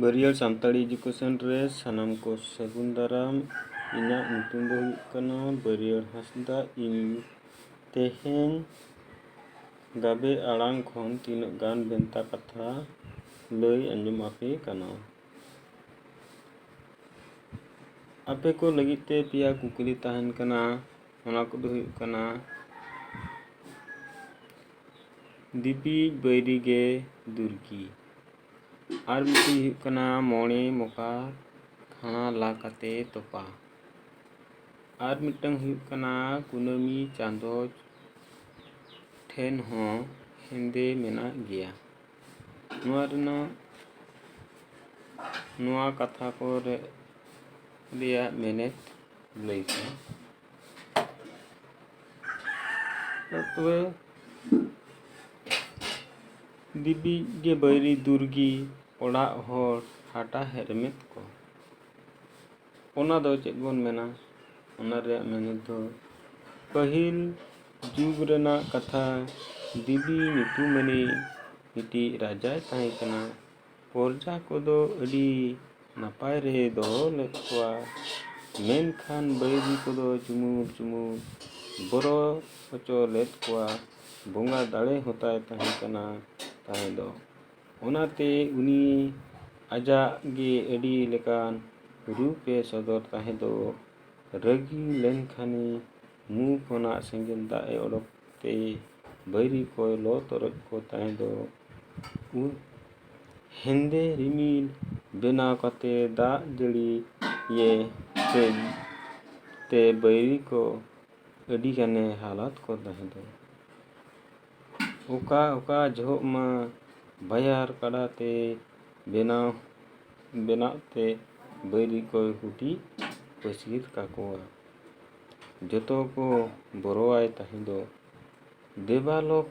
ᱵᱟᱹᱨᱭᱟᱹᱲ Santali education ᱨᱮ ᱥᱟᱱᱟᱢ ᱠᱚ ᱥᱟᱹᱜᱩᱱ ᱫᱟᱨᱟᱢ ᱤᱧᱟᱹᱜ ᱧᱩᱛᱩᱢ ᱫᱚ ᱦᱩᱭᱩᱜ ᱠᱟᱱᱟ ᱵᱟᱹᱨᱭᱟᱹᱲ ᱦᱟᱸᱥᱫᱟ ᱤᱧ ᱛᱮᱦᱮᱧ ᱜᱟᱵᱮ ᱟᱲᱟᱝ ᱠᱷᱚᱱ ᱛᱤᱱᱟᱹᱜ ᱜᱟᱱ ᱵᱷᱮᱱᱛᱟ ᱠᱟᱛᱷᱟ ᱞᱟᱹᱭ ᱟᱸᱡᱚᱢ ᱟᱯᱮ ᱠᱟᱱᱟ ᱟᱯᱮ ᱠᱚ ᱞᱟᱹᱜᱤᱫ ᱛᱮ ᱯᱮᱭᱟ ᱠᱩᱠᱞᱤ ᱛᱟᱦᱮᱱ ᱠᱟᱱᱟ ᱚᱱᱟ ᱠᱚᱫᱚ ᱦᱩᱭᱩᱜ ᱠᱟᱱᱟ ᱫᱤᱯᱤᱡ ᱵᱟᱹᱭᱨᱤ ᱜᱮ ᱫᱩᱨᱠᱤ ᱟᱨ ᱢᱤᱫᱴᱤᱡ ᱦᱩᱭᱩᱜ ᱠᱟᱱᱟ ᱢᱚᱬᱮ ᱢᱚᱠᱟ ᱠᱷᱟᱬᱟ ᱞᱟ ᱠᱟᱛᱮ ᱛᱚᱯᱟ ᱟᱨ ᱢᱤᱫᱴᱟᱝ ᱦᱩᱭᱩᱜ ᱠᱟᱱᱟ ᱠᱩᱱᱟᱹᱢᱤ ᱪᱟᱸᱫᱚ ᱴᱷᱮᱱ ᱦᱚᱸ ᱦᱮᱸᱫᱮ ᱢᱮᱱᱟᱜ ᱜᱮᱭᱟ ᱱᱚᱣᱟ ᱨᱮᱱᱟᱜ ᱱᱚᱣᱟ ᱠᱟᱛᱷᱟ ᱠᱚᱨᱮ ᱨᱮᱭᱟᱜ ᱢᱮᱱᱮᱛ ᱞᱟᱹᱭ ᱯᱮ ᱛᱚᱵᱮ ᱵᱤᱵᱤᱡ ᱜᱮ ᱵᱟᱹᱭᱨᱤ ᱫᱩᱨᱜᱤ ᱚᱲᱟᱜ ᱦᱚᱲ ᱦᱟᱴᱟ ᱦᱮᱨᱢᱮᱫ ᱠᱚ ᱚᱱᱟ ᱫᱚ ᱪᱮᱫ ᱵᱚᱱ ᱢᱮᱱᱟ ᱚᱱᱟ ᱨᱮᱭᱟᱜ ᱢᱮᱱᱮᱫ ᱫᱚ ᱯᱟᱹᱦᱤᱞ ᱡᱩᱜᱽ ᱨᱮᱱᱟᱜ ᱠᱟᱛᱷᱟ ᱵᱤᱵᱤ ᱧᱩᱛᱩᱢᱟᱱᱤᱡ ᱢᱤᱫᱴᱤᱡ ᱨᱟᱡᱟᱭ ᱛᱟᱦᱮᱸ ᱠᱟᱱᱟ ᱯᱚᱨᱡᱟ ᱠᱚᱫᱚ ᱟᱹᱰᱤ ᱱᱟᱯᱟᱭ ᱨᱮ ᱫᱚᱦᱚ ᱞᱮᱫ ᱠᱚᱣᱟ ᱢᱮᱱᱠᱷᱟᱱ ᱵᱟᱹᱭᱨᱤ ᱠᱚᱫᱚ ᱪᱩᱢᱩᱞ ᱪᱩᱢᱩᱞ ᱵᱚᱨᱚ ᱦᱚᱪᱚ ᱞᱮᱫ ᱠᱚᱣᱟ ᱵᱚᱸᱜᱟ ᱫᱟᱲᱮ ᱦᱚᱸᱛᱟᱭ ᱛᱟᱦᱮᱸ ᱠᱟᱱᱟ ᱛᱟᱦᱮᱸ ᱫᱚ ᱚᱱᱟᱛᱮ ᱩᱱᱤ ᱟᱡᱟᱜ ᱜᱮ ᱟᱹᱰᱤ ᱞᱮᱠᱟᱱ ᱨᱩᱯ ᱮ ᱥᱚᱫᱚᱨ ᱛᱟᱦᱮᱸ ᱫᱚ ᱨᱟᱹᱜᱤ ᱞᱮᱱᱠᱷᱟᱱᱮ ᱢᱩ ᱠᱷᱚᱱᱟᱜ ᱥᱮᱸᱜᱮᱞ ᱫᱟᱜ ᱮ ᱚᱰᱚᱠ ᱛᱮ ᱵᱟᱹᱭᱨᱤ ᱠᱚᱭ ᱞᱚ ᱛᱚᱨᱚᱡ ᱠᱚ ᱛᱟᱦᱮᱸ ᱫᱚ ᱩᱫ ᱦᱮᱸᱫᱮ ᱨᱤᱢᱤᱞ ᱵᱮᱱᱟᱣ ᱠᱟᱛᱮ ᱫᱟᱜ ᱡᱟᱹᱲᱤ ᱤᱭᱟᱹ ᱛᱮ ᱛᱮ ᱵᱟᱹᱭᱨᱤ ᱠᱚ ᱟᱹᱰᱤ ᱜᱟᱱᱮ ᱦᱟᱞᱟᱛ ᱠᱚ ᱛᱟᱦᱮᱸ ᱫᱚ ᱚᱠᱟ ᱚᱠᱟ ᱡᱚᱦᱚᱜ ᱢᱟ ᱵᱟᱭᱟᱨ ᱠᱟᱰᱟ ᱛᱮ ᱵᱮᱱᱟᱣ ᱵᱮᱱᱟᱜ ᱛᱮ ᱵᱟᱹᱭᱨᱤ ᱠᱚᱭ ᱦᱩᱴᱤᱡ ᱯᱟᱹᱥᱤᱨ ᱠᱟᱠᱚᱣᱟ ᱡᱚᱛᱚ ᱠᱚ ᱵᱚᱨᱚᱣᱟᱭ ᱛᱟᱦᱮᱸ ᱫᱚ᱾ ᱫᱮᱵᱟᱞᱳᱠ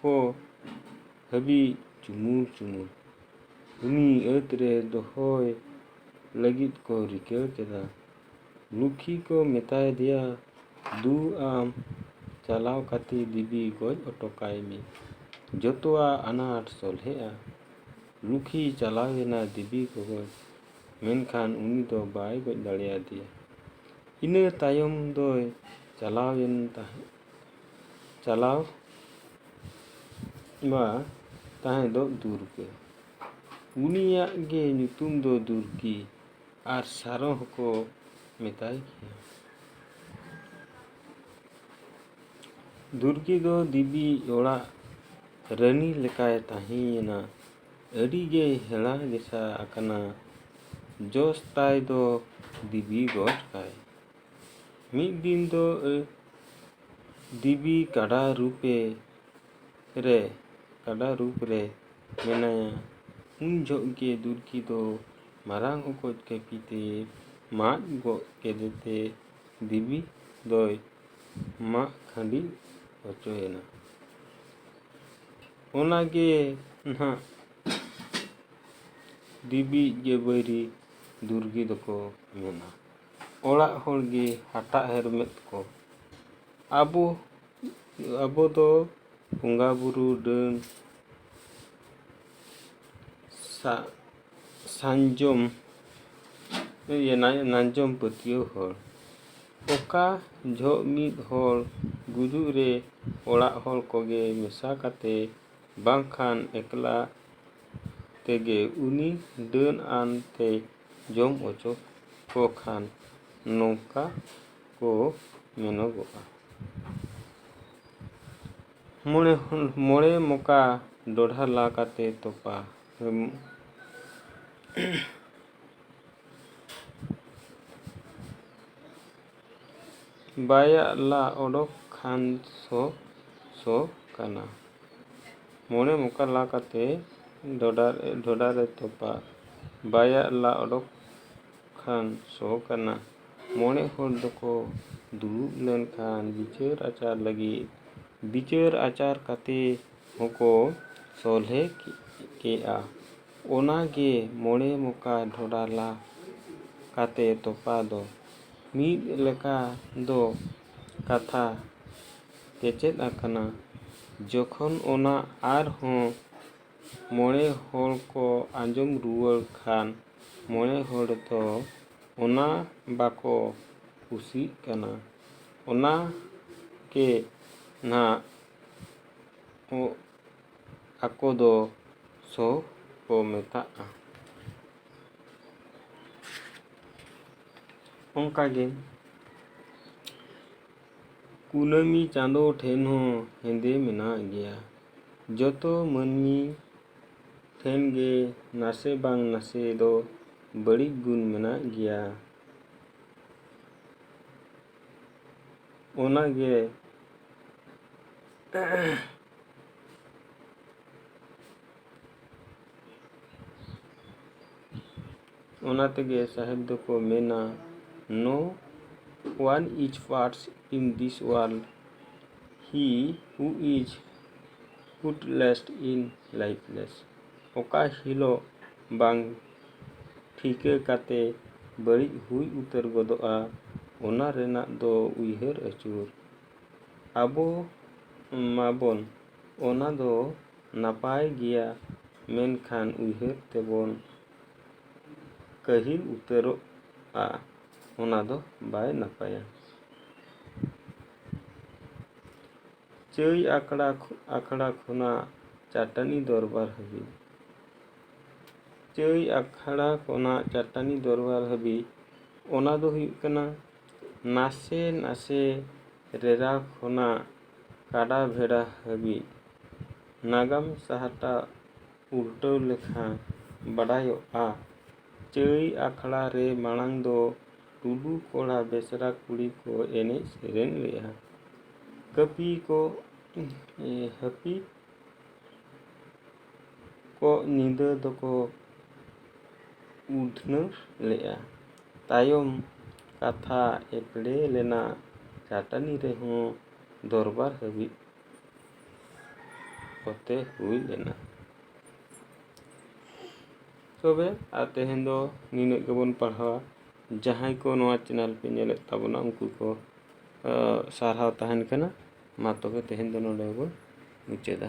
ᱠᱚ ᱦᱟᱹᱵᱤᱡ ᱪᱩᱢᱩᱞ ᱪᱩᱢᱩᱞ᱾ ᱩᱱᱤ ᱟᱹᱛ ᱨᱮ ᱫᱚᱦᱚᱭ ᱞᱟᱹᱜᱤᱫ ᱠᱚ ᱨᱤᱠᱟᱹ ᱠᱮᱫᱟ᱾ ᱞᱩᱠᱷᱤ ᱠᱚ ᱢᱮᱛᱟᱭ ᱫᱮᱭᱟ, ᱫᱩ ᱟᱢ ᱪᱟᱞᱟᱣ ᱠᱟᱛᱮ ᱫᱮᱵᱤ ᱜᱚᱡ ᱚᱴᱚ ᱠᱟᱭ ᱢᱮ᱾ ᱡᱚᱛᱚᱣᱟᱜ ᱟᱱᱟᱴ ᱥᱚᱞᱦᱮᱜᱼᱟ᱾ ᱞᱩᱠᱷᱤ ᱪᱟᱞᱟᱣ ᱮᱱᱟ ᱫᱮᱵᱤ ᱜᱚᱜᱚᱡ᱾ ᱢᱮᱱᱠᱷᱟᱱ ᱩᱱᱤ ᱫᱚ ᱵᱟᱭ ᱜᱚᱡ ᱫᱟᱲᱮᱭᱟᱫᱮᱭᱟ᱾ ᱤᱱᱟᱹ ᱛᱟᱭᱚᱢ ᱫᱚᱭ ᱪᱟᱞᱟᱣ ᱮᱱ ᱛᱟᱦᱮᱸᱫ᱾ ᱪᱟᱞᱟᱣ ᱢᱟ ᱛᱟᱦᱮᱸᱫᱚᱜ ᱫᱩᱨᱜᱟᱹ᱾ ᱩᱱᱤᱭᱟᱜ ᱜᱮ ᱧᱩᱛᱩᱢ ᱫᱚ ᱫᱩᱨᱜᱤ ᱟᱨ ᱥᱟᱨᱚ ᱦᱚᱸᱠᱚ ᱢᱮᱛᱟᱭ ᱜᱮᱭᱟ᱾ ᱫᱩᱨᱜᱤ ᱫᱚ ᱫᱮᱵᱤ ᱚᱲᱟᱜ ᱨᱟᱹᱱᱤ ᱞᱮᱠᱟᱭ ᱛᱟᱦᱮᱸᱭᱮᱱᱟ᱾ ᱟᱹᱰᱤ ᱜᱮᱭ ᱦᱮᱬᱟ ᱜᱮᱥᱟ ᱟᱠᱟᱱᱟ᱾ ᱡᱚᱥ ᱛᱟᱭ ᱫᱚ ᱫᱤᱵᱤ ᱜᱚᱡ ᱠᱟᱭ᱾ ᱢᱤᱫ ᱫᱤᱱ ᱫᱚ ᱫᱤᱵᱤ ᱠᱟᱰᱟ ᱨᱩᱯ ᱮ ᱨᱮ ᱠᱟᱰᱟ ᱨᱩᱯ ᱨᱮ ᱢᱮᱱᱟᱭᱟ᱾ ᱩᱱ ᱡᱷᱚᱜ ᱜᱮ ᱫᱩᱨᱠᱤ ᱫᱚ ᱢᱟᱨᱟᱝ ᱚᱠᱚᱡ ᱠᱟᱹᱯᱤ ᱛᱮ ᱢᱟᱜ ᱜᱚᱜ ᱠᱮᱫᱮ ᱛᱮ ᱫᱤᱵᱤ ᱫᱚᱭ ᱢᱟᱜ ᱠᱷᱟᱺᱰᱤ ᱚᱪᱚᱭᱮᱱᱟ᱾ ᱚᱱᱟ ᱜᱮ ᱱᱟᱦᱟᱜ ᱫᱤᱵᱤᱭᱤᱡ ᱜᱮ ᱵᱟᱹᱭᱨᱤ ᱫᱩᱨᱜᱮ ᱫᱚᱠᱚ ᱢᱮᱱᱟ ᱚᱲᱟᱜ ᱦᱚᱲ ᱜᱮ ᱦᱟᱴᱟᱜ ᱦᱮᱨᱢᱮᱫ ᱠᱚ ᱟᱵᱚ ᱟᱵᱚ ᱫᱚ ᱵᱚᱸᱜᱟ ᱵᱩᱨᱩ ᱰᱟᱹᱱ ᱥᱟ ᱥᱟᱧᱡᱚᱢ ᱤᱭᱟᱹ ᱱᱟᱧᱡᱚᱢ ᱯᱟᱹᱛᱭᱟᱹᱣ ᱦᱚᱲ ᱚᱠᱟ ᱡᱷᱚᱜ ᱢᱤᱫ ᱦᱚᱲ ᱜᱩᱡᱩᱜ ᱨᱮ ᱚᱲᱟᱜ ᱦᱚᱲ ᱠᱚᱜᱮ ᱢᱮᱥᱟ ᱠᱟᱛᱮ ᱵᱟᱝᱠᱷᱟᱱ ᱮᱠᱞᱟ ᱛᱮᱜᱮ ᱩᱱᱤ ᱰᱟᱹᱱ ᱟᱱ ᱛᱮᱭ ᱡᱚᱢ ᱚᱪᱚ ᱠᱚ ᱠᱷᱟᱱ ᱱᱚᱝᱠᱟ ᱠᱚ ᱢᱮᱱᱚᱜᱚᱜᱼᱟ᱾ ᱢᱚᱬᱮ ᱦᱚᱲ ᱢᱚᱬᱮ ᱢᱚᱠᱟ ᱰᱚᱰᱷᱟ ᱞᱟ ᱠᱟᱛᱮ ᱛᱚᱯᱟ᱾ ᱵᱟᱭᱟᱜ ᱞᱟ ᱚᱰᱚᱠ ᱠᱷᱟᱱ ᱥᱚ ᱥᱚ ᱠᱟᱱᱟ᱾ ᱢᱚᱬᱮ ᱢᱚᱠᱟ ᱞᱟ ᱠᱟᱛᱮ ᱰᱚᱰᱟ ᱰᱷᱚᱰᱟ ᱨᱮ ᱛᱚᱯᱟ᱾ ᱵᱟᱭᱟᱜ ᱞᱟ ᱚᱰᱚᱠ ᱠᱷᱟᱱ ᱥᱚ ᱠᱟᱱᱟ᱾ ᱢᱚᱬᱮ ᱦᱚᱲ ᱫᱚᱠᱚ ᱫᱩᱲᱩᱵ ᱞᱮᱱ ᱠᱷᱟᱱ ᱵᱤᱪᱟᱹᱨ ᱟᱪᱟᱨ ᱞᱟᱹᱜᱤᱫ᱾ ᱵᱤᱪᱟᱹᱨ ᱟᱪᱟᱨ ᱠᱟᱛᱮ ᱦᱚᱸᱠᱚ ᱥᱚᱞᱦᱮ ᱠᱮᱜᱼᱟ᱾ ᱚᱱᱟ ᱜᱮ ᱢᱚᱬᱮ ᱢᱚᱠᱟ ᱰᱷᱚᱰᱟ ᱞᱟ ᱠᱟᱛᱮ ᱛᱚᱯᱟ ᱫᱚ᱾ ᱢᱤᱫ ᱞᱮᱠᱟ ᱫᱚ ᱠᱟᱛᱷᱟ ᱠᱮᱪᱮᱫ ᱟᱠᱟᱱᱟ᱾ ᱡᱚᱠᱷᱚᱱ ᱚᱱᱟ ᱟᱨ ᱦᱚᱸ ᱢᱚᱬᱮ ᱦᱚᱲ ᱠᱚ ᱟᱸᱡᱚᱢ ᱨᱩᱣᱟᱹᱲ ᱠᱷᱟᱱ ᱢᱚᱬᱮ ᱦᱚᱲ ᱫᱚ ᱚᱱᱟ ᱵᱟᱠᱚ ᱠᱩᱥᱤᱜ ᱠᱟᱱᱟ᱾ ᱚᱱᱟ ᱜᱮ ᱱᱷᱟᱜ ᱟᱠᱚ ᱫᱚ ᱥᱚ ᱠᱚ ᱢᱮᱛᱟᱜᱼᱟ ᱚᱱᱠᱟ ᱜᱮ ᱠᱩᱱᱟᱹᱢᱤ ᱪᱟᱸᱫᱚ ᱴᱷᱮᱱ ᱦᱚᱸ ᱦᱮᱸᱫᱮ ᱢᱮᱱᱟᱜ ᱜᱮᱭᱟ ᱡᱚᱛᱚ ᱢᱟᱹᱱᱢᱤ ᱴᱷᱮᱱ ᱜᱮ ᱱᱟᱥᱮ ᱵᱟᱝ ᱱᱟᱥᱮ ᱫᱚ ᱵᱟᱹᱲᱤᱡ ᱜᱩᱱ ᱢᱮᱱᱟᱜ ᱜᱮᱭᱟ ᱚᱱᱟ ᱜᱮ ᱚᱱᱟ ᱛᱮᱜᱮ ᱥᱟᱦᱮᱵᱽ ᱫᱚᱠᱚ ᱢᱮᱱᱟ no one is parts in this world ᱦᱤ ᱦᱩ ᱤᱡᱽ ᱯᱩᱴᱞᱮᱥᱴ ᱤᱱ ᱞᱟᱭᱤᱯᱷᱞᱮᱥ ᱚᱠᱟ ᱦᱤᱞᱳᱜ ᱵᱟᱝ ᱴᱷᱤᱠᱟᱹ ᱠᱟᱛᱮ ᱵᱟᱹᱲᱤᱡ ᱦᱩᱭ ᱩᱛᱟᱹᱨ ᱜᱚᱫᱚᱜᱼᱟ ᱚᱱᱟ ᱨᱮᱱᱟᱜ ᱫᱚ ᱩᱭᱦᱟᱹᱨ ᱟᱹᱪᱩᱨ᱾ ᱟᱵᱚ ᱢᱟᱵᱚᱱ ᱚᱱᱟ ᱫᱚ ᱱᱟᱯᱟᱭ ᱜᱮᱭᱟ ᱢᱮᱱᱠᱷᱟᱱ ᱩᱭᱦᱟᱹᱨ ᱛᱮᱵᱚᱱ ᱠᱟᱹᱦᱤᱞ ᱩᱛᱟᱹᱨᱚᱜᱼᱟ ᱚᱱᱟ ᱫᱚ ᱵᱟᱭ ᱱᱟᱯᱟᱭᱟ᱾ ᱪᱟᱹᱭ ᱟᱠᱷᱲᱟ ᱟᱠᱷᱲᱟ ᱠᱷᱚᱱᱟᱜ ᱪᱟᱹᱴᱟᱹᱱᱤ ᱫᱚᱨᱵᱟᱨ ᱦᱟᱹᱵᱤᱡ ᱪᱟᱹᱭ ᱟᱠᱷᱲᱟ ᱠᱷᱚᱱᱟᱜ ᱪᱟᱹᱴᱟᱹᱱᱤ ᱫᱚᱨᱵᱟᱨ ᱦᱟᱹᱵᱤᱡ ᱚᱱᱟ ᱫᱚ ᱦᱩᱭᱩᱜ ᱠᱟᱱᱟ ᱱᱟᱥᱮ ᱱᱟᱥᱮ ᱨᱮᱨᱟ ᱠᱷᱚᱱᱟᱜ ᱠᱟᱰᱟ ᱵᱷᱮᱰᱟ ᱦᱟᱹᱵᱤᱡ ᱱᱟᱜᱟᱢ ᱥᱟᱦᱴᱟ ᱩᱞᱴᱟᱹᱣ ᱞᱮᱠᱷᱟᱱ ᱵᱟᱰᱟᱭᱚᱜᱼᱟ ᱪᱟᱹᱭ ᱟᱠᱷᱲᱟ ᱨᱮ ᱢᱟᱲᱟᱝ ᱫᱚ ᱴᱩᱰᱩ ᱠᱚᱲᱟ ᱵᱮᱥᱨᱟ ᱠᱩᱲᱤ ᱠᱚ ᱮᱱᱮᱡ ᱥᱮᱨᱮᱧ ᱞᱮᱜᱼᱟ ᱠᱟᱹᱯᱤ ᱠᱚ ᱦᱟᱹᱯᱤ ᱠᱚ ᱧᱤᱫᱟᱹ ᱫᱚᱠᱚ ᱩᱰᱷᱱᱟᱹ ᱞᱮᱜᱼᱟ ᱛᱟᱭᱚᱢ ᱠᱟᱛᱷᱟ ᱮᱯᱲᱮ ᱞᱮᱱᱟ ᱪᱟᱹᱴᱟᱹᱱᱤ ᱨᱮᱦᱚᱸ ᱫᱚᱨᱵᱟᱨ ᱦᱟᱹᱵᱤᱡ ᱠᱚᱛᱮ ᱦᱩᱭ ᱞᱮᱱᱟ ᱛᱚᱵᱮ ᱟᱨ ᱛᱮᱦᱮᱧ ᱫᱚ ᱱᱤᱱᱟᱹᱜ ᱜᱮᱵᱚᱱ ᱯᱟᱲᱦᱟᱣᱟ ᱡᱟᱦᱟᱸᱭ ᱠᱚ ᱱᱚᱣᱟ ᱪᱮᱱᱮᱞ ᱯᱮ ᱧᱮᱞᱮᱫ ᱛᱟᱵᱚᱱᱟ ᱩᱱᱠᱩ ᱠᱚ ᱥᱟᱨᱦᱟᱣ ᱛᱟᱦᱮᱱ ᱠᱟᱱᱟ ᱢᱟ ᱛᱚᱵᱮ ᱛᱮᱦᱮᱧ ᱫᱚ ᱱᱚᱰᱮ ᱜᱮᱵᱚᱱ ᱢᱩᱪᱟᱹᱫᱟ